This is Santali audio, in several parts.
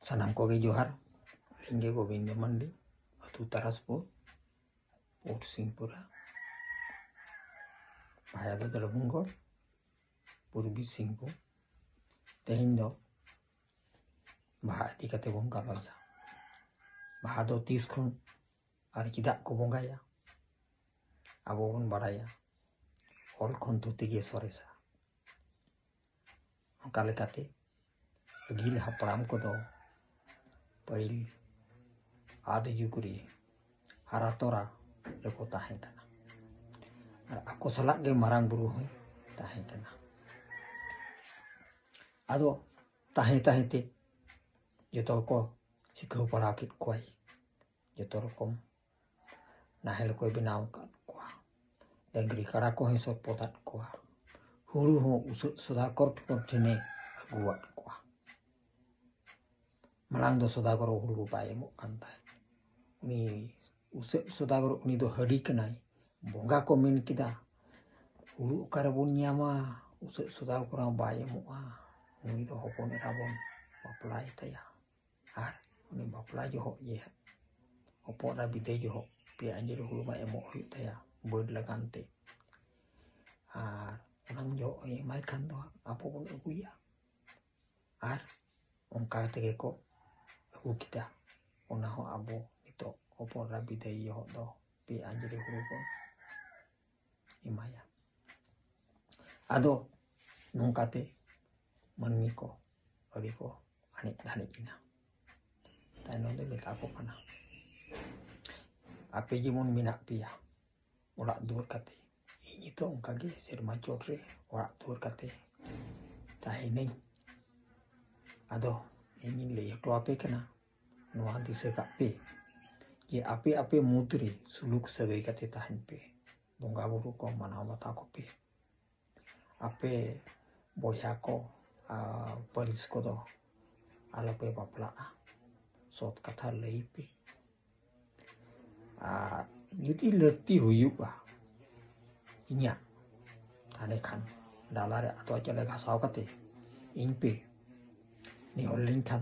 ᱥᱟᱱᱟᱢ ᱠᱚᱜᱮ ᱡᱚᱦᱟᱨ ᱤᱧ ᱜᱮ ᱜᱳᱵᱤᱱᱫᱚ ᱢᱟᱱᱰᱤ ᱟᱹᱛᱩ ᱛᱟᱨᱟᱥᱯᱩᱨ ᱯᱳᱨᱴ ᱥᱤᱝᱯᱩᱨᱟ ᱵᱷᱟᱭᱟ ᱫᱚ ᱫᱚᱞᱵᱷᱩᱢᱜᱚᱲ ᱯᱩᱨᱵᱤ ᱥᱤᱝᱵᱷᱩᱢ ᱛᱮᱦᱮᱧ ᱫᱚ ᱵᱟᱦᱟ ᱤᱫᱤ ᱠᱟᱛᱮ ᱵᱚᱱ ᱜᱟᱞᱚᱪᱟ ᱵᱟᱦᱟ ᱫᱚ ᱛᱤᱥ ᱠᱷᱚᱱ ᱟᱨ ᱪᱮᱫᱟᱜ ᱠᱚ ᱵᱚᱸᱜᱟᱭᱟ ᱟᱵᱚ ᱵᱚᱱ ᱵᱟᱲᱟᱭᱟ ᱚᱞ ᱠᱷᱚᱱ ᱫᱷᱩᱛᱤ ᱜᱮ ᱥᱚᱨᱮᱥᱟ ᱚᱱᱠᱟ ᱞᱮᱠᱟᱛᱮ ᱟᱹᱜᱤᱞ ᱦᱟᱯᱲᱟᱢ ᱠᱚᱫᱚ ᱯᱟᱹᱦᱤᱞ ᱟᱫᱤ ᱡᱩᱜᱽ ᱨᱮ ᱦᱟᱨᱟ ᱛᱚᱨᱟ ᱨᱮᱠᱚ ᱛᱟᱦᱮᱸ ᱠᱟᱱᱟ ᱟᱨ ᱟᱠᱚ ᱥᱟᱞᱟᱜ ᱜᱮ ᱢᱟᱨᱟᱝ ᱵᱩᱨᱩ ᱦᱚᱸᱭ ᱛᱟᱦᱮᱸ ᱠᱟᱱᱟ ᱟᱫᱚ ᱛᱟᱦᱮᱸ ᱛᱟᱦᱮᱸ ᱛᱮ ᱡᱚᱛᱚ ᱠᱚ ᱥᱤᱠᱷᱟᱹᱣ ᱯᱟᱲᱦᱟᱣ ᱠᱮᱫ ᱠᱚᱣᱟᱭ ᱡᱚᱛᱚ ᱨᱚᱠᱚᱢ ᱱᱟᱦᱮᱞ ᱠᱚᱭ ᱵᱮᱱᱟᱣ ᱟᱠᱟᱫ ᱠᱚᱣᱟ ᱰᱟᱹᱝᱨᱤ ᱠᱟᱰᱟ ᱠᱚᱦᱚᱸᱭ ᱥᱚᱯᱚᱫ ᱟᱫ ᱠᱚᱣᱟ ᱦᱩᱲᱩ ᱦᱚᱸ ᱩᱥᱟᱹᱫ ᱥᱚᱫᱟᱜᱚᱨ ᱴᱷᱮᱱᱮ ᱟᱹᱜᱩᱣᱟᱫ ᱠᱚᱣᱟ ᱢᱟᱲᱟᱝ ᱫᱚ ᱥᱚᱫᱟᱜᱚᱨ ᱦᱩᱲᱩ ᱵᱟᱭ ᱮᱢᱚᱜ ᱠᱟᱱ ᱛᱟᱦᱮᱸᱫ ᱩᱱᱤ ᱩᱥᱟᱹᱫ ᱥᱚᱫᱟᱜᱚᱨ ᱩᱱᱤ ᱫᱚ ᱦᱟᱹᱰᱤ ᱠᱟᱱᱟᱭ ᱵᱚᱸᱜᱟ ᱠᱚ ᱢᱮᱱ ᱠᱮᱫᱟ ᱦᱩᱲᱩ ᱚᱠᱟᱨᱮᱵᱚᱱ ᱧᱟᱢᱟ ᱩᱥᱟᱹᱫ ᱥᱚᱫᱟᱜᱚᱨ ᱦᱚᱸ ᱵᱟᱭ ᱮᱢᱚᱜᱼᱟ ᱩᱱᱤ ᱫᱚ ᱦᱚᱯᱚᱱ ᱮᱨᱟ ᱵᱚᱱ ᱵᱟᱯᱞᱟᱭ ᱛᱟᱭᱟ ᱟᱨ ᱩᱱᱤ ᱵᱟᱯᱞᱟ ᱡᱚᱦᱚᱜ ᱜᱮ ᱦᱟᱸᱜ ᱦᱚᱯᱚᱱ ᱮᱨᱟ ᱵᱤᱫᱟᱹᱭ ᱡᱚᱦᱚᱜ ᱯᱮᱭᱟ ᱟᱸᱡᱽᱞᱮ ᱦᱩᱲᱩ ᱢᱟ ᱮᱢᱚᱜ ᱦᱩᱭᱩᱜ ᱛᱟᱭᱟ ᱵᱟᱹᱰ ᱞᱟᱜᱟᱱ ᱛᱮ ᱟᱨ ᱚᱱᱟ ᱡᱚᱦᱚᱜ ᱮ ᱮᱢᱟᱭ ᱠᱷᱟᱱ ᱫᱚ ᱦᱟᱸᱜ ᱟᱵᱚ ᱵᱚᱱ ᱟᱹᱜᱩᱭᱟ ᱟᱨ ᱚᱱᱠᱟ ᱛᱮᱜᱮ ᱠᱚ ᱟᱹᱜᱩ ᱠᱮᱫᱟ ᱚᱱᱟ ᱦᱚᱸ ᱟᱵᱚ ᱱᱤᱛᱚᱜ ᱦᱚᱯᱚᱱ ᱮᱨᱟ ᱵᱤᱫᱟᱹᱭ ᱡᱚᱦᱚᱜ ᱫᱚ ᱯᱮ ᱟᱸᱡᱽᱞᱮ ᱦᱩᱲᱩ ᱵᱚᱱ ᱮᱢᱟᱭᱟ ᱟᱫᱚ ᱱᱚᱝᱠᱟᱛᱮ ᱢᱟᱹᱱᱢᱤ ᱠᱚ ᱟᱹᱰᱤ ᱠᱚ ᱟᱱᱮᱡ ᱫᱷᱟᱱᱮᱡ ᱮᱱᱟ ᱛᱟᱭᱱᱚᱢ ᱨᱮ ᱢᱮᱛᱟ ᱠᱚ ᱠᱟᱱᱟ ᱟᱯᱮ ᱡᱮᱢᱚᱱ ᱢᱮᱱᱟᱜ ᱯᱮᱭᱟ ᱚᱲᱟᱜ ᱫᱩᱣᱟᱹᱨ ᱠᱟᱛᱮ ᱤᱧ ᱱᱤᱛᱚᱜ ᱚᱱᱠᱟᱜᱮ ᱥᱮᱨᱢᱟ ᱪᱚᱴ ᱨᱮ ᱚᱲᱟᱜ ᱫᱩᱣᱟᱹᱨ ᱠᱟᱛᱮ ᱛᱟᱦᱮᱱᱟᱹᱧ ᱟᱫᱚ ᱤᱧᱤᱧ ᱞᱟᱹᱭ ᱦᱚᱴᱚ ᱟᱯᱮ ᱠᱟᱱᱟ ᱱᱚᱣᱟ ᱫᱤᱥᱟᱹ ᱠᱟᱜ ᱯᱮ ᱡᱮ ᱟᱯᱮ ᱟᱯᱮ ᱢᱩᱫᱽ ᱨᱮ ᱥᱩᱞᱩᱠ ᱥᱟᱹᱜᱟᱹᱭ ᱠᱟᱛᱮ ᱛᱟᱦᱮᱱ ᱯᱮ ᱵᱚᱸᱜᱟ ᱵᱩᱨᱩ ᱠᱚ ᱢᱟᱱᱟᱣ ᱵᱟᱛᱟᱣ ᱠᱚᱯᱮ ᱟᱯᱮ ᱵᱚᱭᱦᱟ ᱠᱚ ᱯᱟᱹᱨᱤᱥ ᱠᱚᱫᱚ ᱟᱞᱚᱯᱮ ᱵᱟᱯᱞᱟᱜᱼᱟ ᱥᱚᱛ ᱠᱟᱛᱷᱟ ᱞᱟᱹᱭ ᱯᱮ ᱟᱨ ᱡᱩᱫᱤ ᱞᱟᱹᱠᱛᱤ ᱦᱩᱭᱩᱜᱼᱟ ᱤᱧᱟᱹᱜ ᱛᱟᱦᱞᱮ ᱠᱷᱟᱱ ᱰᱟᱞᱟᱨᱮ ᱟᱫᱚ ᱪᱟᱣᱞᱮ ᱜᱷᱟᱥᱟᱣ ᱠᱟᱛᱮ ᱤᱧ ᱯᱮ ᱱᱮᱦᱚᱨ ᱞᱮᱱᱠᱷᱟᱱ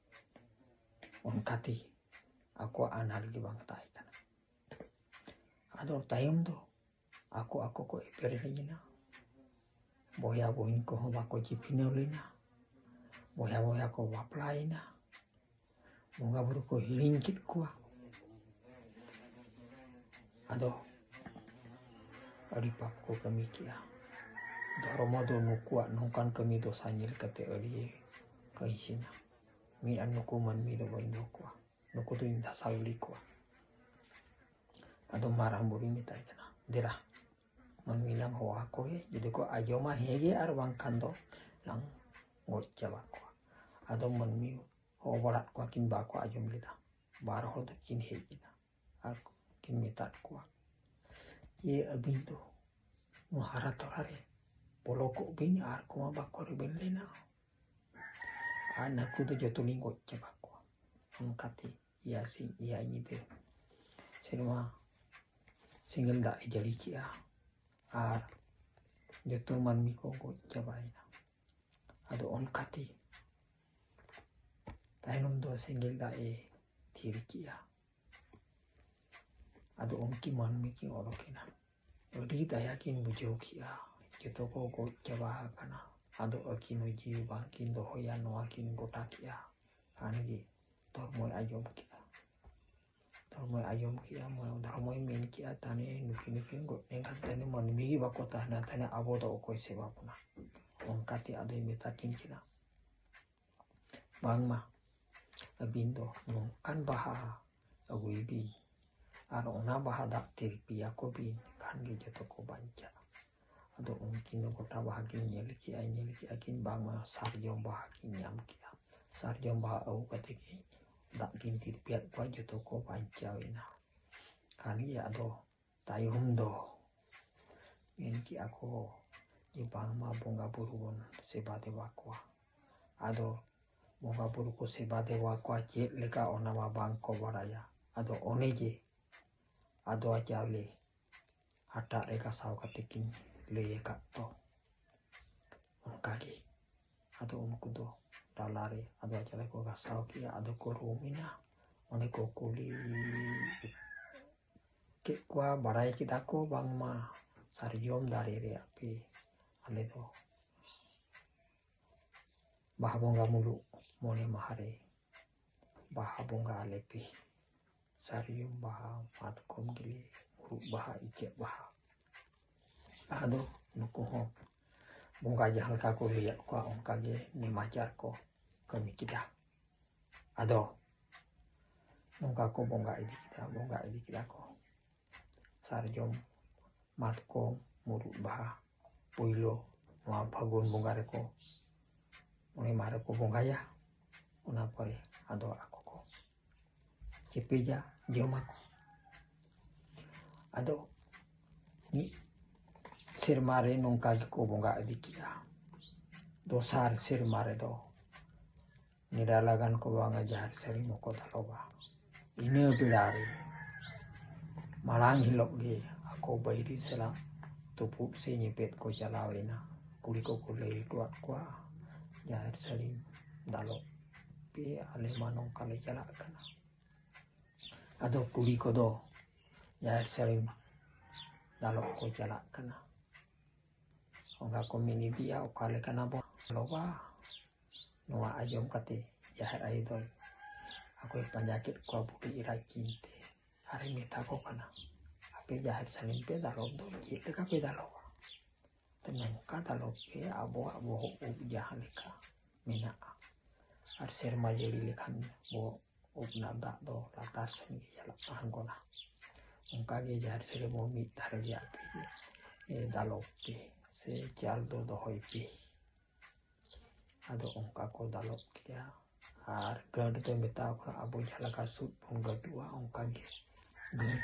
ᱚᱱᱠᱟᱛᱮ ᱟᱠᱚᱣᱟᱜ ᱟᱱᱟᱴ ᱜᱮ ᱵᱟᱝ ᱛᱟᱦᱮᱸ ᱠᱟᱱᱟ ᱟᱫᱚ ᱛᱟᱭᱚᱢ ᱫᱚ ᱟᱠᱚ ᱟᱠᱚ ᱠᱚ ᱮᱯᱮᱨ ᱦᱮᱲᱤᱧᱮᱱᱟ ᱵᱚᱭᱦᱟ ᱵᱚᱦᱤᱱ ᱠᱚᱦᱚᱸ ᱵᱟᱠᱚ ᱪᱤᱯᱤᱱᱟᱹᱣ ᱞᱮᱱᱟ ᱵᱚᱭᱦᱟ ᱵᱚᱭᱦᱟ ᱠᱚ ᱵᱟᱯᱞᱟᱭᱮᱱᱟ ᱵᱚᱸᱜᱟ ᱵᱩᱨᱩ ᱠᱚ ᱦᱤᱲᱤᱧ ᱠᱮᱫ ᱠᱚᱣᱟ ᱟᱫᱚ ᱟᱹᱰᱤ ᱯᱟᱯ ᱠᱚ ᱠᱟᱹᱢᱤ ᱠᱮᱜᱼᱟ ᱫᱷᱚᱨᱢᱚ ᱫᱚ ᱱᱩᱠᱩᱣᱟᱜ ᱱᱚᱝᱠᱟᱱ ᱠᱟᱹᱢᱤ ᱫᱚᱥᱟ ᱧᱮᱞ ᱠᱟᱛᱮ ᱟᱹᱰᱤ ᱠᱟᱹᱭ ᱥᱮᱱᱟ ᱢᱤᱫ ᱟᱨ ᱱᱩᱠᱩ ᱢᱟᱹᱱᱢᱤ ᱫᱚ ᱵᱟᱹᱧ ᱫᱚᱦᱚ ᱠᱚᱣᱟ ᱱᱩᱠᱩ ᱫᱚᱧ ᱫᱷᱟᱥᱟᱣ ᱜᱤᱰᱤ ᱠᱚᱣᱟ ᱟᱫᱚ ᱢᱟᱨᱟᱝ ᱵᱩᱨᱩᱧ ᱢᱮᱛᱟᱭ ᱠᱟᱱᱟ ᱫᱮᱨᱟ ᱢᱟᱹᱱᱢᱤ ᱞᱟᱝ ᱦᱚᱦᱚ ᱟᱠᱚ ᱜᱮ ᱡᱩᱫᱤ ᱠᱚ ᱟᱸᱡᱚᱢᱟ ᱦᱮᱸ ᱜᱮ ᱟᱨ ᱵᱟᱝᱠᱷᱟᱱ ᱫᱚ ᱞᱟᱝ ᱜᱚᱡ ᱪᱟᱵᱟ ᱠᱚᱣᱟ ᱟᱫᱚ ᱢᱟᱹᱱᱢᱤ ᱦᱚᱦᱚ ᱵᱟᱲᱟᱫ ᱠᱚᱣᱟ ᱠᱤᱱ ᱵᱟᱠᱚ ᱟᱸᱡᱚᱢ ᱞᱮᱫᱟ ᱵᱟᱨ ᱦᱚᱲ ᱫᱚ ᱠᱤᱱ ᱦᱮᱡ ᱮᱱᱟ ᱟᱨ ᱠᱤᱱ ᱢᱮᱛᱟᱫ ᱠᱚᱣᱟ ᱡᱮ ᱟᱹᱵᱤᱱ ᱫᱚ ᱱᱚᱣᱟ ᱦᱟᱨᱟ ᱛᱚᱨᱟ ᱨᱮ ᱵᱚᱞᱚ ᱠᱚᱜ ᱵᱤᱱ ᱟᱨ ᱠᱚᱢᱟ ᱵᱟᱠᱚ ᱨᱮᱵᱮᱱ ᱞᱮᱱᱟ ᱟᱨ ᱱᱟᱹᱠᱩ ᱫᱚ ᱡᱚᱛᱚ ᱞᱤᱧ ᱜᱚᱡ ᱪᱟᱵᱟ ᱠᱚᱣᱟ ᱚᱱᱠᱟᱛᱮ ᱮᱭᱟ ᱥᱤᱧ ᱮᱭᱟ ᱧᱤᱫᱟᱹ ᱥᱮᱨᱢᱟ ᱥᱮᱸᱜᱮᱞ ᱫᱟᱜ ᱮ ᱡᱟᱹᱲᱤ ᱠᱮᱜᱼᱟ ᱟᱨ ᱡᱚᱛᱚ ᱢᱟᱹᱱᱢᱤ ᱠᱚ ᱜᱚᱡ ᱪᱟᱵᱟᱭᱮᱱᱟ ᱟᱫᱚ ᱚᱱᱠᱟᱛᱮ ᱛᱟᱭᱱᱚᱢ ᱫᱚ ᱥᱮᱸᱜᱮᱞ ᱫᱟᱜ ᱮ ᱛᱷᱤᱨ ᱠᱮᱜᱼᱟ ᱟᱫᱚ ᱩᱱᱠᱤᱱ ᱢᱟᱹᱱᱢᱤ ᱠᱤᱱ ᱚᱰᱚᱠᱮᱱᱟ ᱟᱹᱰᱤ ᱫᱟᱭᱟ ᱠᱤᱱ ᱵᱩᱡᱷᱟᱹᱣ ᱠᱮᱜᱼᱟ ᱡᱚᱛᱚ ᱠᱚ ᱜᱚᱡ ᱪᱟᱵᱟ ᱟᱠᱟᱱᱟ ᱟᱫᱚ ᱟᱹᱠᱤᱱ ᱦᱚᱸ ᱡᱤᱣᱤ ᱵᱟᱝ ᱠᱤᱱ ᱫᱚᱦᱚᱭᱟ ᱱᱚᱣᱟ ᱠᱤᱱ ᱜᱚᱴᱟ ᱠᱮᱜᱼᱟ ᱠᱷᱟᱱ ᱜᱮ ᱫᱷᱚᱨᱢᱚᱭ ᱟᱸᱡᱚᱢ ᱠᱮᱜᱼᱟ ᱫᱷᱚᱨᱢᱚᱭ ᱟᱸᱡᱚᱢ ᱠᱮᱜᱼᱟ ᱫᱷᱚᱨᱢᱚᱭ ᱢᱮᱱ ᱠᱮᱜᱼᱟ ᱛᱟᱦᱚᱞᱮ ᱱᱩᱠᱤᱱ ᱱᱩᱠᱤᱱ ᱜᱚᱡ ᱞᱮᱱᱠᱷᱟᱱ ᱛᱟᱦᱚᱞᱮ ᱢᱟᱹᱱᱢᱤ ᱜᱮ ᱵᱟᱠᱚ ᱛᱟᱦᱮᱱᱟ ᱛᱟᱦᱚᱞᱮ ᱟᱵᱚ ᱫᱚ ᱚᱠᱚᱭ ᱥᱮᱵᱟ ᱵᱚᱱᱟ ᱚᱱᱠᱟᱛᱮ ᱟᱫᱚᱭ ᱢᱮᱛᱟ ᱠᱤᱱ ᱠᱟᱱᱟ ᱵᱟᱝᱢᱟ ᱟᱹᱵᱤᱱ ᱫᱚ ᱱᱚᱝᱠᱟᱱ ᱵᱟᱦᱟ ᱟᱹᱜᱩᱭ ᱵᱤᱱ ᱟᱨ ᱚᱱᱟ ᱵᱟᱦᱟ ᱫᱟᱜ ᱛᱮ ᱨᱤᱯᱤᱭᱟ ᱠᱚ ᱵᱤᱱ ᱠᱷᱟᱱ ᱜᱮ ᱡᱚᱛᱚ ᱠᱚ ᱵᱟᱧᱪᱟᱜᱼᱟ ᱟᱫᱚ ᱩᱱᱠᱤᱱ ᱫᱚ ᱜᱚᱴᱟ ᱵᱟᱦᱟ ᱠᱤᱱ ᱧᱮᱞ ᱠᱮᱜᱼᱟ ᱧᱮᱞ ᱠᱮᱜᱼᱟ ᱠᱤᱱ ᱵᱟᱝᱢᱟ ᱥᱟᱨᱡᱚᱢ ᱵᱟᱦᱟ ᱠᱤᱱ ᱧᱟᱢ ᱠᱮᱜᱼᱟ ᱥᱟᱨᱡᱚᱢ ᱵᱟᱦᱟ ᱟᱹᱜᱩ ᱠᱟᱛᱮ ᱠᱤᱱ ᱫᱟᱜ ᱠᱤᱱ ᱛᱤᱨᱯᱤᱭᱟᱫ ᱠᱚᱣᱟ ᱡᱚᱛᱚ ᱠᱚ ᱵᱟᱧᱪᱟᱣ ᱮᱱᱟ ᱠᱷᱟᱱ ᱜᱮ ᱟᱫᱚ ᱛᱟᱭᱚᱢ ᱫᱚ ᱢᱮᱱ ᱠᱮᱜᱼᱟ ᱠᱚ ᱡᱮ ᱵᱟᱝᱢᱟ ᱵᱚᱸᱜᱟ ᱵᱩᱨᱩ ᱵᱚᱱ ᱥᱮᱵᱟ ᱫᱮᱵᱟ ᱠᱚᱣᱟ ᱟᱫᱚ ᱵᱚᱸᱜᱟ ᱵᱩᱨᱩ ᱠᱚ ᱥᱮᱵᱟ ᱫᱮᱵᱟ ᱠᱚᱣᱟ ᱪᱮᱫ ᱞᱮᱠᱟ ᱚᱱᱟ ᱢᱟ ᱵᱟᱝ ᱠᱚ ᱵᱟᱲᱟᱭᱟ ᱟᱫᱚ ᱚᱱᱮ ᱡᱮ ᱟᱫᱚᱣᱟ ᱪᱟᱣᱞᱮ ᱦᱟᱴᱟᱜ ᱨᱮ ᱜᱟᱥᱟᱣ ᱠᱟᱛᱮ ᱠᱤᱱ ᱞᱟᱹᱭ ᱟᱠᱟᱫ ᱫᱚ ᱚᱱᱠᱟᱜᱮ ᱟᱫᱚ ᱩᱱᱠᱩ ᱫᱚ ᱰᱟᱞᱟ ᱨᱮ ᱟᱫᱚᱣᱟ ᱪᱟᱣᱞᱮ ᱠᱚ ᱜᱟᱥᱟᱣ ᱠᱮᱜᱼᱟ ᱟᱫᱚ ᱠᱚ ᱨᱩᱢ ᱮᱱᱟ ᱚᱸᱰᱮ ᱠᱚ ᱠᱩᱞᱤ ᱠᱮᱫ ᱠᱚᱣᱟ ᱵᱟᱲᱟᱭ ᱠᱮᱫᱟ ᱠᱚ ᱵᱟᱝᱢᱟ ᱥᱟᱨᱡᱚᱢ ᱫᱟᱨᱮ ᱨᱮᱭᱟᱜ ᱯᱮ ᱟᱞᱮ ᱫᱚ ᱵᱟᱦᱟ ᱵᱚᱸᱜᱟ ᱢᱩᱞᱩᱜ ᱢᱚᱬᱮ ᱢᱟᱦᱟ ᱨᱮ ᱵᱟᱦᱟ ᱵᱚᱸᱜᱟ ᱟᱞᱮ ᱯᱮ ᱥᱟᱨᱡᱚᱢ ᱵᱟᱦᱟ ᱢᱟᱛᱠᱚᱢ ᱜᱮᱞᱮ ᱢᱩᱨᱩᱫ ᱵᱟᱦᱟ ᱤᱪᱟᱹᱜ ᱵᱟᱦᱟ ᱞᱟᱦᱟ ᱫᱚ ᱱᱩᱠᱩ ᱦᱚᱸ ᱵᱚᱸᱜᱟ ᱡᱟᱦᱟᱸ ᱞᱮᱠᱟ ᱠᱚ ᱞᱟᱹᱭᱟᱫ ᱠᱚᱣᱟ ᱚᱱᱠᱟᱜᱮ ᱱᱮᱢᱟᱪᱟᱨ ᱠᱚ ᱠᱟᱹᱢᱤ ᱠᱮᱫᱟ ᱟᱫᱚ ᱱᱚᱝᱠᱟ ᱠᱚ ᱵᱚᱸᱜᱟ ᱤᱫᱤ ᱠᱮᱫᱟ ᱵᱚᱸᱜᱟ ᱤᱫᱤ ᱠᱮᱫᱟ ᱠᱚ ᱥᱟᱨᱡᱚᱢ ᱢᱟᱛᱠᱚᱢ ᱢᱩᱨᱩᱫ ᱵᱟᱦᱟ ᱯᱳᱭᱞᱳ ᱱᱚᱣᱟ ᱯᱷᱟᱹᱜᱩᱱ ᱵᱚᱸᱜᱟ ᱨᱮᱠᱚ ᱢᱚᱬᱮ ᱢᱟᱦᱟ ᱨᱮᱠᱚ ᱵᱚᱸᱜᱟᱭᱟ ᱚᱱᱟ ᱯᱚᱨᱮ ᱟᱫᱚ ᱟᱠᱚ ᱠᱚ ᱪᱮᱯᱮᱡᱟ ᱡᱚᱢᱟᱠᱚ ᱟᱫᱚ ᱢᱤᱫ ᱥᱮᱨᱢᱟ ᱨᱮ ᱱᱚᱝᱠᱟ ᱜᱮᱠᱚ ᱵᱚᱸᱜᱟ ᱤᱫᱤ ᱠᱮᱫᱟ ᱫᱚᱥᱟᱨ ᱥᱮᱨᱢᱟ ᱨᱮᱫᱚ ᱱᱮᱰᱟ ᱞᱟᱜᱟᱱ ᱠᱚ ᱵᱟᱝᱟ ᱡᱟᱦᱮᱨ ᱥᱟᱹᱲᱤᱢ ᱦᱚᱸᱠᱚ ᱫᱟᱞᱚᱵᱟ ᱤᱱᱟᱹ ᱵᱮᱲᱟ ᱨᱮ ᱢᱟᱲᱟᱝ ᱦᱤᱞᱳᱜ ᱜᱮ ᱟᱠᱚ ᱵᱟᱹᱭᱨᱤ ᱥᱟᱞᱟᱜ ᱛᱩᱯᱩᱫ ᱥᱮ ᱧᱮᱯᱮᱫ ᱠᱚ ᱪᱟᱞᱟᱣ ᱮᱱᱟ ᱠᱩᱲᱤ ᱠᱚᱠᱚ ᱞᱟᱹᱭ ᱦᱚᱴᱚᱣᱟᱫ ᱠᱚᱣᱟ ᱡᱟᱦᱮᱨ ᱥᱟᱹᱲᱤᱢ ᱫᱟᱞᱚᱵ ᱯᱮ ᱟᱞᱮ ᱢᱟ ᱱᱚᱝᱠᱟ ᱞᱮ ᱪᱟᱞᱟᱜ ᱠᱟᱱᱟ ᱟᱫᱚ ᱠᱩᱲᱤ ᱠᱚᱫᱚ ᱡᱟᱦᱮᱨ ᱥᱟᱹᱲᱤᱢ ᱫᱟᱞᱚᱵ ᱠᱚ ᱪᱟᱞᱟᱜ ᱠᱟᱱᱟ ᱚᱱᱠᱟ ᱠᱚ ᱢᱮᱱ ᱤᱫᱤᱭᱟ ᱚᱠᱟ ᱞᱮᱠᱟᱱᱟ ᱵᱚᱱ ᱞᱚᱵᱟ ᱱᱚᱣᱟ ᱟᱸᱡᱚᱢ ᱠᱟᱛᱮ ᱡᱟᱦᱮᱨ ᱟᱭᱳ ᱫᱚᱭ ᱟᱠᱚᱭ ᱯᱟᱸᱡᱟ ᱠᱮᱫ ᱠᱚᱣᱟ ᱵᱩᱰᱷᱤ ᱮᱨᱟ ᱪᱤᱱᱛᱮ ᱟᱨᱮ ᱢᱮᱛᱟ ᱠᱚ ᱠᱟᱱᱟ ᱟᱯᱮ ᱡᱟᱦᱮᱨ ᱥᱟᱹᱲᱤᱢ ᱯᱮ ᱫᱟᱞᱚᱵ ᱫᱚ ᱪᱮᱫ ᱞᱮᱠᱟ ᱯᱮ ᱫᱟᱞᱚᱵᱟ ᱱᱚᱝᱠᱟ ᱫᱟᱞᱚᱵ ᱯᱮ ᱟᱵᱚᱣᱟᱜ ᱵᱚᱦᱚᱜ ᱩᱵ ᱡᱟᱦᱟᱸ ᱞᱮᱠᱟ ᱢᱮᱱᱟᱜᱼᱟ ᱟᱨ ᱥᱮᱨᱢᱟ ᱡᱟᱹᱲᱤ ᱞᱮᱠᱷᱟᱱ ᱵᱚᱦᱚᱜ ᱩᱵ ᱨᱮᱱᱟᱜ ᱫᱟᱜ ᱫᱚ ᱞᱟᱛᱟᱨ ᱥᱮᱱ ᱜᱮ ᱪᱟᱞᱟᱜ ᱟᱬᱜᱚᱱᱟ ᱚᱱᱠᱟᱜᱮ ᱡᱟᱦᱮᱨ ᱥᱟᱹᱲᱤ ᱵᱚᱱ ᱢᱤᱫ ᱫᱷᱟᱨᱮ ᱨᱮᱭᱟᱜ ᱫᱟᱞᱚᱵ ᱯᱮ ᱥᱮ ᱪᱟᱞ ᱫᱚ ᱫᱚᱦᱚᱭ ᱯᱮ ᱟᱫᱚ ᱚᱱᱠᱟ ᱠᱚ ᱫᱟᱞᱚᱵ ᱠᱮᱭᱟ ᱟᱨ ᱜᱟᱹᱰ ᱫᱚ ᱢᱮᱛᱟᱣ ᱠᱚᱣᱟ ᱟᱵᱚ ᱡᱟᱦᱟᱸ ᱞᱮᱠᱟ ᱥᱩᱫ ᱵᱚᱱ ᱜᱟᱹᱰᱩᱜᱼᱟ ᱚᱱᱠᱟ ᱜᱮ ᱜᱟᱹᱰ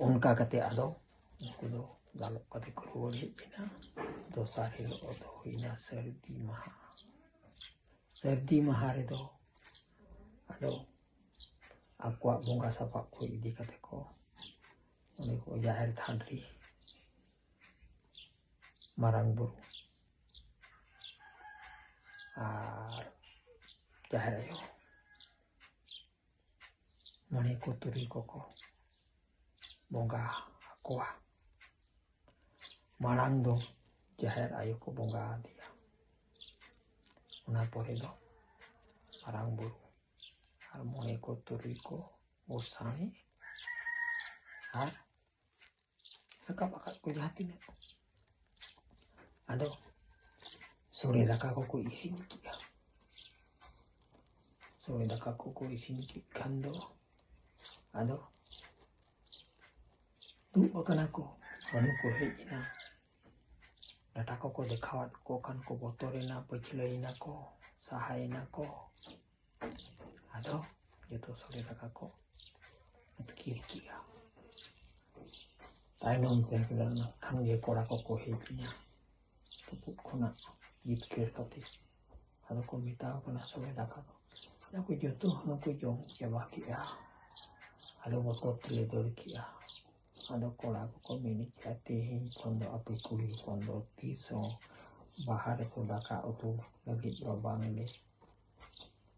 ᱚᱱᱠᱟ ᱠᱟᱛᱮ ᱟᱫᱚ ᱩᱱᱠᱩ ᱫᱚ ᱫᱟᱞᱚᱵ ᱠᱟᱛᱮ ᱠᱚ ᱨᱩᱣᱟᱹᱲ ᱦᱮᱡ ᱮᱱᱟ ᱫᱚᱥᱟᱨ ᱦᱤᱞᱳᱜ ᱫᱚ ᱦᱩᱭᱱᱟ ᱥᱟᱹᱨᱫᱤ ᱢᱟᱦᱟ ᱥᱟᱹᱨᱫᱤ ᱢᱟᱦᱟ ᱨᱮᱫᱚ ᱟᱫᱚ ᱟᱠᱚᱣᱟᱜ ᱵᱚᱸᱜᱟ ᱥᱟᱯᱟᱵ ᱠᱚ ᱤᱫᱤ ᱠᱟᱛᱮ ᱠᱚ ᱩᱱᱤ ᱠᱚ ᱡᱟᱦᱮᱨ ᱛᱷᱟᱱ ᱨᱮ ᱢᱟᱨᱟᱝ ᱵᱩᱨᱩ ᱟᱨ ᱡᱟᱦᱮᱨ ᱟᱭᱳ ᱢᱚᱬᱮ ᱠᱚ ᱛᱩᱨᱩᱭ ᱠᱚᱠᱚ ᱵᱚᱸᱜᱟ ᱟᱠᱚᱣᱟ ᱢᱟᱲᱟᱝ ᱫᱚ ᱡᱟᱦᱮᱨ ᱟᱭᱳ ᱠᱚ ᱵᱚᱸᱜᱟ ᱟᱫᱮᱭᱟ ᱚᱱᱟ ᱯᱚᱨᱮ ᱫᱚ ᱢᱟᱨᱟᱝ ᱵᱩᱨᱩ ᱟᱨ ᱢᱚᱬᱮ ᱠᱚ ᱛᱩᱨᱩᱭ ᱠᱚ ᱜᱚᱸᱥᱟᱬᱮ ᱟᱨ ᱨᱟᱠᱟᱵ ᱟᱠᱟᱫ ᱠᱚ ᱡᱟᱦᱟᱸ ᱛᱤᱱᱟᱹᱜ ᱟᱫᱚ ᱥᱚᱲᱮ ᱫᱟᱠᱟ ᱠᱚᱠᱚ ᱤᱥᱤᱱ ᱠᱮᱜᱼᱟ ᱥᱚᱲᱮ ᱫᱟᱠᱟ ᱠᱚᱠᱚ ᱤᱥᱤᱱ ᱠᱮᱫ ᱠᱷᱟᱱ ᱫᱚ ᱟᱫᱚ ᱫᱩᱲᱩᱵ ᱟᱠᱟᱱᱟ ᱠᱚ ᱦᱟᱹᱱᱩ ᱠᱚ ᱦᱮᱡ ᱮᱱᱟ ᱰᱟᱴᱟ ᱠᱚᱠᱚ ᱫᱮᱠᱷᱟᱣᱟᱫ ᱠᱚ ᱠᱷᱟᱱ ᱠᱚ ᱵᱚᱛᱚᱨᱮᱱᱟ ᱯᱟᱹᱪᱷᱞᱟᱹᱭᱮᱱᱟ ᱠᱚ ᱥᱟᱦᱟᱭᱮᱱᱟ ᱠᱚ ᱟᱫᱚ ᱡᱚᱛᱚ ᱥᱚᱲᱮ ᱫᱟᱠᱟ ᱠᱚ ᱟᱹᱛᱠᱤᱨ ᱠᱮᱜᱼᱟ ᱛᱟᱭᱱᱚᱢ ᱛᱮ ᱠᱷᱟᱱ ᱜᱮ ᱠᱚᱲᱟ ᱠᱚᱠᱚ ᱦᱮᱡ ᱮᱱᱟ ᱛᱩᱯᱩᱫ ᱠᱷᱚᱱᱟᱜ ᱡᱤᱛᱠᱟᱹᱨ ᱠᱟᱛᱮ ᱟᱫᱚ ᱠᱚ ᱢᱮᱛᱟᱣ ᱠᱟᱱᱟ ᱥᱚᱲᱮ ᱫᱟᱠᱟ ᱫᱚ ᱟᱫᱚ ᱠᱚ ᱡᱚᱛᱚ ᱦᱚᱲ ᱠᱚ ᱡᱚᱢ ᱪᱟᱵᱟ ᱠᱮᱜᱼᱟ ᱟᱫᱚ ᱵᱚᱛᱚᱨ ᱛᱮᱞᱮ ᱫᱟᱹᱲ ᱠᱮᱜᱼᱟ ᱟᱫᱚ ᱠᱚᱲᱟ ᱠᱚᱠᱚ ᱢᱮᱱ ᱠᱮᱜᱼᱟ ᱛᱮᱦᱮᱧ ᱠᱷᱚᱱ ᱫᱚ ᱟᱯᱮ ᱠᱩᱲᱤ ᱦᱚᱯᱚᱱ ᱫᱚ ᱛᱤᱥ ᱦᱚᱸ ᱵᱟᱦᱟ ᱨᱮᱠᱚ ᱫᱟᱠᱟ ᱩᱛᱩ ᱞᱟᱹᱜᱤᱫ ᱫᱚ ᱵᱟᱝᱞᱮ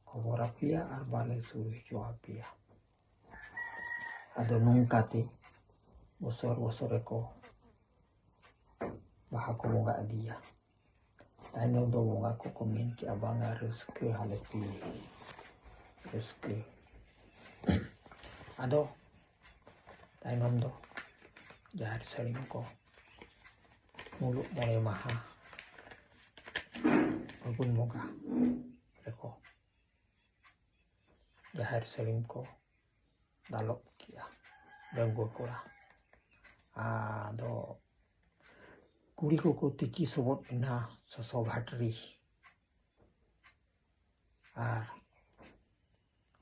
ᱠᱷᱚᱵᱚᱨ ᱟᱯᱮᱭᱟ ᱟᱨ ᱵᱟᱞᱮ ᱥᱩᱨ ᱦᱚᱪᱚ ᱟᱯᱮᱭᱟ ᱟᱫᱚ ᱱᱚᱝᱠᱟᱛᱮ ᱵᱚᱥᱚᱨ ᱵᱚᱥᱚᱨ ᱨᱮᱠᱚ ᱵᱟᱦᱟ ᱠᱚ ᱵᱚᱸᱜᱟ ᱤᱫᱤᱭᱟ ᱛᱟᱭᱱᱚᱢ ᱫᱚ ᱵᱚᱸᱜᱟ ᱠᱚᱠᱚ ᱢᱮᱱ ᱠᱮᱜᱼᱟ ᱵᱟᱝᱟ ᱨᱟᱹᱥᱠᱟᱹ ᱦᱟᱞᱮ ᱯᱤ ᱨᱟᱹᱥᱠᱟᱹ ᱟᱫᱚ ᱛᱟᱭᱱᱚᱢ ᱫᱚ ᱡᱟᱦᱮᱨ ᱥᱟᱹᱲᱤᱢ ᱠᱚ ᱢᱩᱞᱩᱜ ᱢᱚᱬᱮ ᱢᱟᱦᱟ ᱯᱷᱟᱹᱜᱩᱱ ᱵᱚᱸᱜᱟ ᱨᱮᱠᱚ ᱡᱟᱦᱮᱨ ᱥᱟᱹᱲᱤᱢ ᱠᱚ ᱫᱟᱞᱚᱵ ᱠᱮᱜᱼᱟ ᱰᱟᱺᱜᱩᱣᱟᱹ ᱠᱚᱲᱟ ᱟᱫᱚ ᱠᱩᱲᱤ ᱠᱚᱠᱚ ᱛᱤᱠᱤ ᱥᱚᱵᱚᱫ ᱮᱱᱟ ᱥᱚᱥᱚ ᱜᱷᱟᱴᱨᱤ ᱟᱨ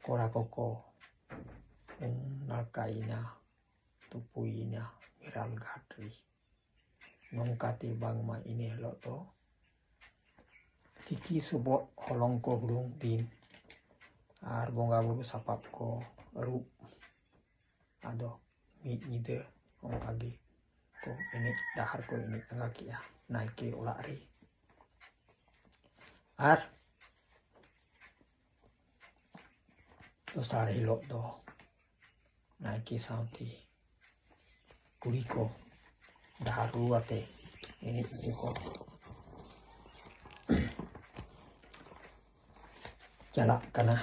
ᱠᱚᱲᱟ ᱠᱚᱠᱚ ᱩᱢ ᱱᱟᱲᱠᱟᱭᱮᱱᱟ ᱛᱩᱯᱩᱭᱮᱱᱟ ᱢᱮᱨᱟᱞ ᱜᱷᱟᱴ ᱨᱮ ᱱᱚᱝᱠᱟᱛᱮ ᱵᱟᱝᱢᱟ ᱤᱱᱟᱹ ᱦᱤᱞᱳᱜ ᱫᱚ ᱛᱤᱠᱤ ᱥᱚᱵᱚᱜ ᱦᱚᱞᱚᱝ ᱠᱚ ᱦᱩᱲᱩᱝ ᱫᱤᱱ ᱟᱨ ᱵᱚᱸᱜᱟ ᱵᱩᱨᱩ ᱥᱟᱯᱟᱵ ᱠᱚ ᱟᱹᱨᱩᱵ ᱟᱫᱚ ᱢᱤᱫ ᱧᱤᱫᱟᱹ ᱚᱱᱠᱟᱜᱮ ᱠᱚ ᱮᱱᱮᱡ ᱰᱟᱦᱟᱨ ᱠᱚ ᱮᱱᱮᱡ ᱟᱸᱜᱟ ᱠᱮᱜᱼᱟ ᱱᱟᱭᱠᱮ ᱚᱲᱟᱜ ᱨᱮ ᱟᱨ ᱫᱚᱥᱟᱨ ᱦᱤᱞᱳᱜ ᱫᱚ ᱱᱟᱭᱠᱮ ᱥᱟᱶᱛᱮ ᱠᱩᱲᱤ ᱠᱚ ᱰᱟᱦᱟᱨ ᱨᱩ ᱟᱛᱮ ᱮᱱᱮᱡ ᱠᱚ ᱪᱟᱞᱟᱜ ᱠᱟᱱᱟ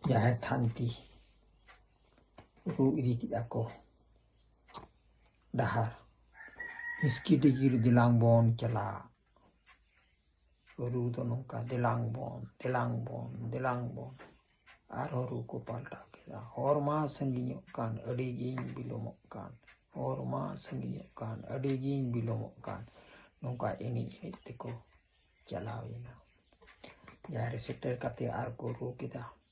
ᱡᱟᱦᱮᱨ ᱛᱷᱟᱱ ᱛᱮ ᱨᱩ ᱤᱫᱤ ᱠᱮᱫᱟ ᱠᱚ ᱰᱟᱦᱟᱨ ᱦᱤᱥᱠᱤ ᱰᱤᱜᱤᱨ ᱫᱮᱞᱟᱝ ᱵᱚᱱ ᱪᱟᱞᱟᱜ ᱨᱩ ᱫᱚ ᱱᱚᱝᱠᱟ ᱫᱮᱞᱟᱝ ᱵᱚᱱ ᱫᱮᱞᱟᱝ ᱵᱚᱱ ᱫᱮᱞᱟᱝ ᱵᱚᱱ ᱟᱨᱦᱚᱸ ᱨᱩ ᱠᱚ ᱯᱟᱞᱴᱟᱣ ᱠᱮᱫᱟ ᱦᱚᱨ ᱢᱟ ᱥᱟᱺᱜᱤᱧᱚᱜ ᱠᱟᱱ ᱟᱹᱰᱤ ᱜᱤᱧ ᱵᱤᱞᱚᱢᱚᱜ ᱠᱟᱱ ᱦᱚᱨ ᱢᱟ ᱥᱟᱺᱜᱤᱧᱚᱜ ᱠᱟᱱ ᱟᱹᱰᱤ ᱜᱤᱧ ᱵᱤᱞᱚᱢᱚᱜ ᱠᱟᱱ ᱱᱚᱝᱠᱟ ᱮᱱᱮᱡ ᱮᱱᱮᱡ ᱛᱮᱠᱚ ᱪᱟᱞᱟᱣᱮᱱᱟ ᱡᱟᱦᱟᱸ ᱨᱮ ᱥᱮᱴᱮᱨ ᱠᱟᱛᱮ ᱟᱨ ᱠᱚ ᱨᱩ ᱠᱮᱫᱟ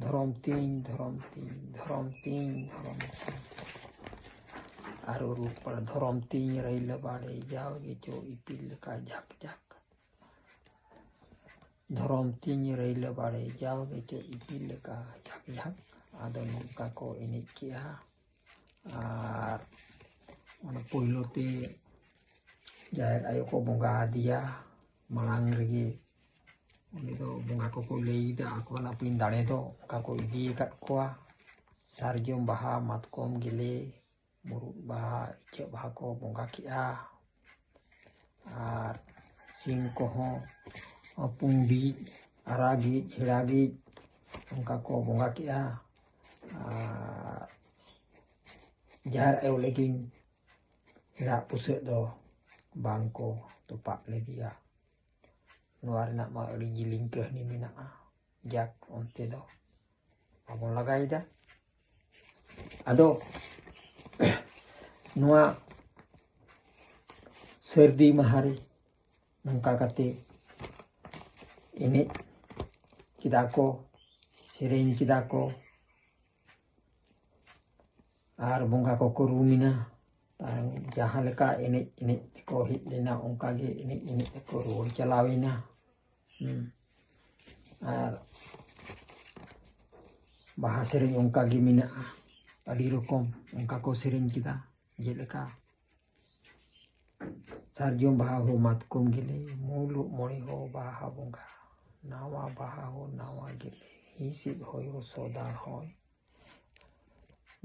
ᱫᱷᱚᱨᱚᱢ ᱛᱤᱧ ᱫᱷᱚᱨᱚᱢ ᱛᱤᱧ ᱫᱷᱚᱨᱚᱢ ᱛᱤᱧ ᱫᱷᱚᱨᱚᱢ ᱛᱤᱧ ᱟᱨᱚ ᱨᱩᱯᱟᱲ ᱫᱷᱚᱨᱚᱢ ᱛᱤᱧ ᱨᱟᱹᱭᱞᱟᱹ ᱵᱟᱲᱮ ᱡᱟᱣᱜᱮ ᱪᱚ ᱤᱯᱤᱞ ᱞᱮᱠᱟ ᱡᱟᱠ ᱡᱟᱠ ᱫᱷᱚᱨᱚᱢ ᱛᱤᱧ ᱨᱟᱹᱭᱞᱟᱹ ᱵᱟᱲᱮ ᱡᱟᱣᱜᱮ ᱪᱚ ᱤᱯᱤᱞ ᱞᱮᱠᱟ ᱡᱟᱠ ᱡᱟᱠ ᱟᱫᱚ ᱱᱚᱝᱠᱟ ᱠᱚ ᱮᱱᱮᱡ ᱠᱮᱜᱼᱟ ᱟᱨ ᱚᱱᱟ ᱯᱳᱭᱞᱳ ᱛᱮ ᱡᱟᱦᱮᱨ ᱟᱭᱳ ᱠᱚ ᱵᱚᱸᱜᱟ ᱟᱫᱮᱭᱟ ᱢᱟᱲᱟᱝ ᱨᱮᱜᱮ ᱩᱱᱤ ᱫᱚ ᱵᱚᱸᱜᱟ ᱠᱚᱠᱚ ᱞᱟᱹᱭᱮᱫᱟ ᱟᱠᱚ ᱚᱱᱟ ᱯᱤᱱ ᱫᱟᱲᱮ ᱫᱚ ᱚᱱᱠᱟ ᱠᱚ ᱤᱫᱤ ᱟᱠᱟᱫ ᱠᱚᱣᱟ ᱥᱟᱨᱡᱚᱢ ᱵᱟᱦᱟ ᱢᱟᱛᱠᱚᱢ ᱜᱮᱞᱮ ᱢᱩᱨᱩᱫ ᱵᱟᱦᱟ ᱤᱪᱟᱹᱜ ᱵᱟᱦᱟ ᱠᱚ ᱵᱚᱸᱜᱟ ᱠᱮᱜᱼᱟ ᱟᱨ ᱥᱤᱢ ᱠᱚᱦᱚᱸ ᱯᱩᱸᱰᱤᱡ ᱟᱨᱟᱜᱤᱡ ᱦᱮᱲᱟᱜᱤᱡ ᱚᱱᱠᱟ ᱠᱚ ᱵᱚᱸᱜᱟ ᱠᱮᱜᱼᱟ ᱟᱨ ᱡᱟᱦᱮᱨ ᱟᱭᱳ ᱞᱟᱹᱜᱤᱫ ᱦᱮᱲᱟᱜ ᱵᱩᱥᱟᱹᱜ ᱫᱚ ᱵᱟᱝ ᱠᱚ ᱛᱚᱯᱟᱜ ᱞᱮᱫᱮᱭᱟ ᱱᱚᱣᱟ ᱨᱮᱱᱟᱜ ᱢᱟ ᱟᱹᱰᱤ ᱡᱤᱞᱤᱧ ᱠᱟᱹᱦᱱᱤ ᱢᱮᱱᱟᱜᱼᱟ ᱡᱟᱠ ᱚᱱᱛᱮ ᱫᱚ ᱵᱟᱵᱚᱱ ᱞᱟᱜᱟᱭᱮᱫᱟ ᱟᱫᱚ ᱱᱚᱣᱟ ᱥᱟᱹᱨᱫᱤ ᱢᱟᱦᱟᱨᱮ ᱱᱚᱝᱠᱟ ᱠᱟᱛᱮ ᱮᱱᱮᱡ ᱠᱮᱫᱟ ᱠᱚ ᱥᱮᱨᱮᱧ ᱠᱮᱫᱟ ᱠᱚ ᱟᱨ ᱵᱚᱸᱜᱟ ᱠᱚᱠᱚ ᱨᱩᱢᱮᱱᱟ ᱡᱟᱦᱟᱸ ᱞᱮᱠᱟ ᱮᱱᱮᱡ ᱮᱱᱮᱡ ᱛᱮᱠᱚ ᱦᱮᱡ ᱞᱮᱱᱟ ᱚᱱᱠᱟ ᱜᱮ ᱮᱱᱮᱡ ᱮᱱᱮᱡ ᱛᱮᱠᱚ ᱨᱩᱣᱟᱹᱲ ᱪᱟᱞᱟᱣᱮᱱᱟ ᱟᱨ ᱵᱟᱦᱟ ᱥᱮᱨᱮᱧ ᱚᱱᱠᱟ ᱜᱮ ᱢᱮᱱᱟᱜᱼᱟ ᱟᱹᱰᱤ ᱨᱚᱠᱚᱢ ᱚᱱᱠᱟ ᱠᱚ ᱥᱮᱨᱮᱧ ᱠᱮᱫᱟ ᱡᱮᱞᱮᱠᱟ ᱥᱟᱨᱡᱚᱢ ᱵᱟᱦᱟ ᱦᱚᱸ ᱢᱟᱛᱠᱚᱢ ᱜᱮᱞᱮ ᱢᱩᱞᱩᱜ ᱢᱚᱬᱮ ᱦᱚᱸ ᱵᱟᱦᱟ ᱵᱚᱸᱜᱟ ᱱᱟᱣᱟ ᱵᱟᱦᱟ ᱦᱚᱸ ᱱᱟᱣᱟ ᱜᱮᱞᱮ ᱦᱤᱸᱥᱤᱫ ᱦᱚᱭ ᱦᱚᱸ ᱥᱚᱫᱟᱲ ᱦᱚᱭ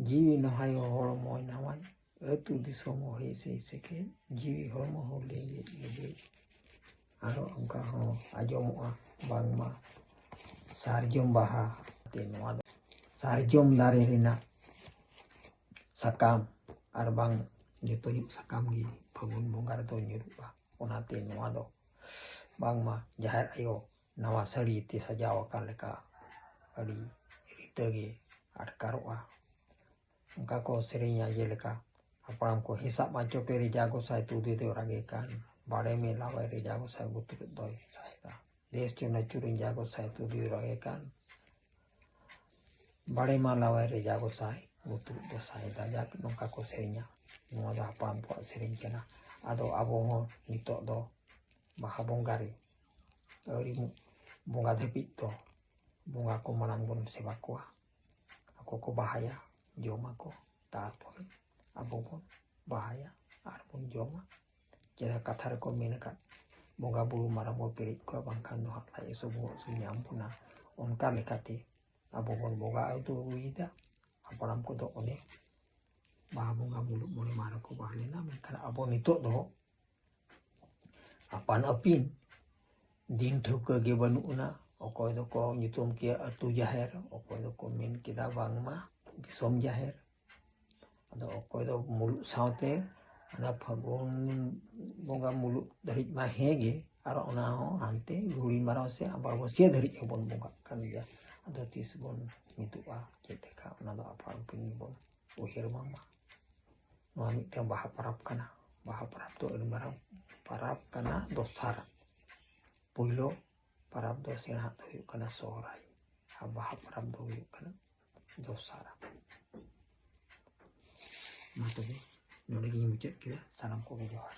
ᱡᱤᱣᱤ ᱱᱟᱦᱟᱭ ᱦᱚᱸ ᱦᱚᱲᱢᱚᱭ ᱱᱟᱣᱟᱭ ᱟᱹᱛᱩ ᱫᱤᱥᱚᱢ ᱦᱚᱸ ᱦᱮᱸᱥᱮ ᱥᱮᱠᱮ ᱡᱤᱣᱤ ᱦᱚᱲᱢᱚ ᱦᱚᱸ ᱞᱮᱸᱡᱮᱡ ᱞᱮᱸᱡᱮᱡ ᱟᱨᱚ ᱚᱱᱠᱟ ᱦᱚᱸ ᱟᱸᱡᱚᱢᱚᱜᱼᱟ ᱵᱟᱝᱢᱟ ᱥᱟᱨᱡᱚᱢ ᱵᱟᱦᱟ ᱛᱮ ᱱᱚᱣᱟ ᱫᱚ ᱥᱟᱨᱡᱚᱢ ᱫᱟᱨᱮ ᱨᱮᱱᱟᱜ ᱥᱟᱠᱟᱢ ᱟᱨ ᱵᱟᱝ ᱡᱚᱛᱚ ᱧᱚᱜ ᱥᱟᱠᱟᱢ ᱜᱮ ᱯᱷᱟᱹᱜᱩᱱ ᱵᱚᱸᱜᱟ ᱨᱮᱫᱚ ᱧᱩᱨᱩᱜᱼᱟ ᱚᱱᱟᱛᱮ ᱱᱚᱣᱟ ᱫᱚ ᱵᱟᱝᱢᱟ ᱡᱟᱦᱮᱨ ᱟᱭᱳ ᱱᱟᱣᱟ ᱥᱟᱹᱲᱤ ᱛᱮ ᱥᱟᱡᱟᱣ ᱟᱠᱟᱱ ᱞᱮᱠᱟ ᱟᱹᱰᱤ ᱨᱤᱛᱟᱹ ᱜᱮ ᱟᱴᱠᱟᱨᱚᱜᱼᱟ ᱚᱱᱠᱟ ᱠᱚ ᱥᱮᱨᱮᱧᱟ ᱡᱮᱞᱮᱠᱟ ᱦᱟᱯᱲᱟᱢ ᱠᱚ ᱦᱮᱥᱟᱜ ᱢᱟ ᱪᱚᱴᱮ ᱨᱮᱡᱟ ᱜᱚᱸᱥᱟᱭ ᱛᱩᱫᱮ ᱫᱚ ᱨᱟᱜᱮ ᱠᱟᱱ ᱵᱟᱲᱮ ᱢᱮᱞᱟᱣᱟᱭ ᱨᱮᱡᱟ ᱜᱚᱸᱥᱟᱭ ᱵᱩᱛᱩᱨᱮᱫ ᱫᱚᱭ ᱥᱟᱭᱫᱟ ᱫᱮᱥ ᱪᱚ ᱱᱟᱹᱪᱩᱨᱤᱧ ᱡᱟ ᱜᱚᱸᱥᱟᱭ ᱛᱩᱫᱮ ᱫᱚ ᱨᱟᱜᱮ ᱠᱟᱱ ᱵᱟᱲᱮ ᱢᱟᱞᱟᱣᱟᱭ ᱨᱮᱡᱟ ᱜᱚᱸᱥᱟᱭ ᱵᱩᱛᱩᱨᱮᱫ ᱫᱚ ᱥᱟᱭᱫᱟ ᱡᱟᱠ ᱱᱚᱝᱠᱟ ᱠᱚ ᱥᱮᱨᱮᱧᱟ ᱱᱚᱣᱟ ᱫᱚ ᱦᱟᱯᱲᱟᱢ ᱠᱚᱣᱟᱜ ᱥᱮᱨᱮᱧ ᱠᱟᱱᱟ ᱟᱫᱚ ᱟᱵᱚ ᱦᱚᱸ ᱱᱤᱛᱚᱜ ᱫᱚ ᱵᱟᱦᱟ ᱵᱚᱸᱜᱟ ᱨᱮ ᱟᱹᱣᱨᱤ ᱵᱚᱸᱜᱟ ᱫᱷᱟᱹᱵᱤᱡ ᱫᱚ ᱵᱚᱸᱜᱟ ᱠᱚ ᱢᱟᱲᱟᱝ ᱵᱚᱱ ᱥᱮᱵᱟ ᱠᱚᱣᱟ ᱟᱠᱚ ᱠᱚ ᱵᱟᱦᱟᱭᱟ ᱡᱚᱢᱟᱠᱚ ᱛᱟᱨᱯᱚᱨᱮ ᱟᱵᱚ ᱵᱚᱱ ᱵᱟᱦᱟᱭᱟ ᱟᱨ ᱵᱚᱱ ᱡᱚᱢᱟ ᱡᱟᱦᱟᱸ ᱠᱟᱛᱷᱟ ᱨᱮᱠᱚ ᱢᱮᱱ ᱟᱠᱟᱫ ᱵᱚᱸᱜᱟ ᱵᱩᱨᱩ ᱢᱟᱨᱟᱝ ᱵᱚᱱ ᱯᱮᱨᱮᱡ ᱠᱚᱣᱟ ᱵᱟᱝᱠᱷᱟᱱ ᱫᱚ ᱦᱟᱸᱜ ᱞᱟᱡ ᱦᱟᱹᱥᱩ ᱵᱚᱦᱚᱜ ᱦᱟᱹᱥᱩ ᱧᱟᱢ ᱵᱚᱱᱟ ᱚᱱᱠᱟ ᱞᱮᱠᱟᱛᱮ ᱟᱵᱚ ᱵᱚᱱ ᱵᱚᱸᱜᱟ ᱟᱹᱫᱩ ᱟᱹᱜᱩᱭᱮᱫᱟ ᱦᱟᱯᱲᱟᱢ ᱠᱚᱫᱚ ᱚᱱᱮ ᱵᱟᱦᱟ ᱵᱚᱸᱜᱟ ᱢᱩᱞᱩᱜ ᱢᱚᱬᱮ ᱢᱟᱦᱟ ᱨᱮᱠᱚ ᱵᱟᱦᱟ ᱞᱮᱱᱟ ᱢᱮᱱᱠᱷᱟᱱ ᱟᱵᱚ ᱱᱤᱛᱚᱜ ᱫᱚ ᱟᱯᱟᱱ ᱟᱹᱯᱤᱱ ᱫᱤᱱ ᱴᱷᱟᱹᱣᱠᱟᱹ ᱜᱮ ᱵᱟᱹᱱᱩᱜ ᱟᱱᱟ ᱚᱠᱚᱭ ᱫᱚᱠᱚ ᱧᱩᱛᱩᱢ ᱠᱮᱭᱟ ᱟᱹᱛᱩ ᱡᱟᱦᱮᱨ ᱚᱠᱚᱭ ᱫᱚᱠᱚ ᱢᱮᱱ ᱠᱮᱫᱟ ᱵᱟᱝᱢᱟ ᱫᱤᱥᱚᱢ ᱡᱟᱦᱮᱨ ᱟᱫᱚ ᱚᱠᱚᱭ ᱫᱚ ᱢᱩᱞᱩᱜ ᱥᱟᱶᱛᱮ ᱚᱱᱟ ᱯᱷᱟᱹᱜᱩᱱ ᱵᱚᱸᱜᱟ ᱢᱩᱞᱩᱜ ᱫᱷᱟᱹᱨᱤᱡ ᱢᱟ ᱦᱮᱸ ᱜᱮ ᱟᱨ ᱚᱱᱟ ᱦᱚᱸ ᱦᱟᱱᱛᱮ ᱜᱷᱩᱲᱤ ᱢᱟᱨᱟᱣ ᱥᱮ ᱟᱢᱵᱟᱵᱟᱹᱥᱭᱟᱹ ᱫᱷᱟᱹᱨᱤᱡ ᱦᱚᱸᱵᱚᱱ ᱵᱚᱸᱜᱟᱜ ᱠᱟᱱ ᱜᱮᱭᱟ ᱟᱫᱚ ᱛᱤᱥ ᱵᱚᱱ ᱢᱤᱫᱚᱜᱼᱟ ᱪᱮᱫ ᱞᱮᱠᱟ ᱚᱱᱟ ᱫᱚ ᱟᱯᱟᱱ ᱟᱹᱯᱤᱱ ᱜᱮᱵᱚᱱ ᱩᱭᱦᱟᱹᱨ ᱵᱟᱝᱢᱟ ᱱᱚᱣᱟ ᱢᱤᱫᱴᱟᱝ ᱵᱟᱦᱟ ᱯᱚᱨᱚᱵᱽ ᱠᱟᱱᱟ ᱵᱟᱦᱟ ᱯᱚᱨᱚᱵᱽ ᱫᱚ ᱟᱹᱰᱤ ᱢᱟᱨᱟᱝ ᱯᱚᱨᱚᱵᱽ ᱠᱟᱱᱟ ᱫᱚᱥᱟᱨ ᱯᱳᱭᱞᱳ ᱯᱚᱨᱚᱵᱽ ᱫᱚ ᱥᱮᱬᱟᱜ ᱫᱚ ᱦᱩᱭᱩᱜ ᱠᱟᱱᱟ ᱥᱚᱦᱨᱟᱭ ᱟᱨ ᱵᱟᱦᱟ ᱯᱚᱨᱚᱵᱽ ᱫᱚ ᱦᱩᱭᱩᱜ ᱠᱟᱱᱟ ᱫᱚᱥᱟᱨ ᱢᱟ ᱛᱚᱵᱮ ᱱᱚᱰᱮ ᱜᱤᱧ ᱢᱩᱪᱟᱹᱫ ᱠᱮᱫᱟ ᱥᱟᱱᱟᱢ ᱠᱚᱜᱮ ᱡᱚᱦᱟᱨ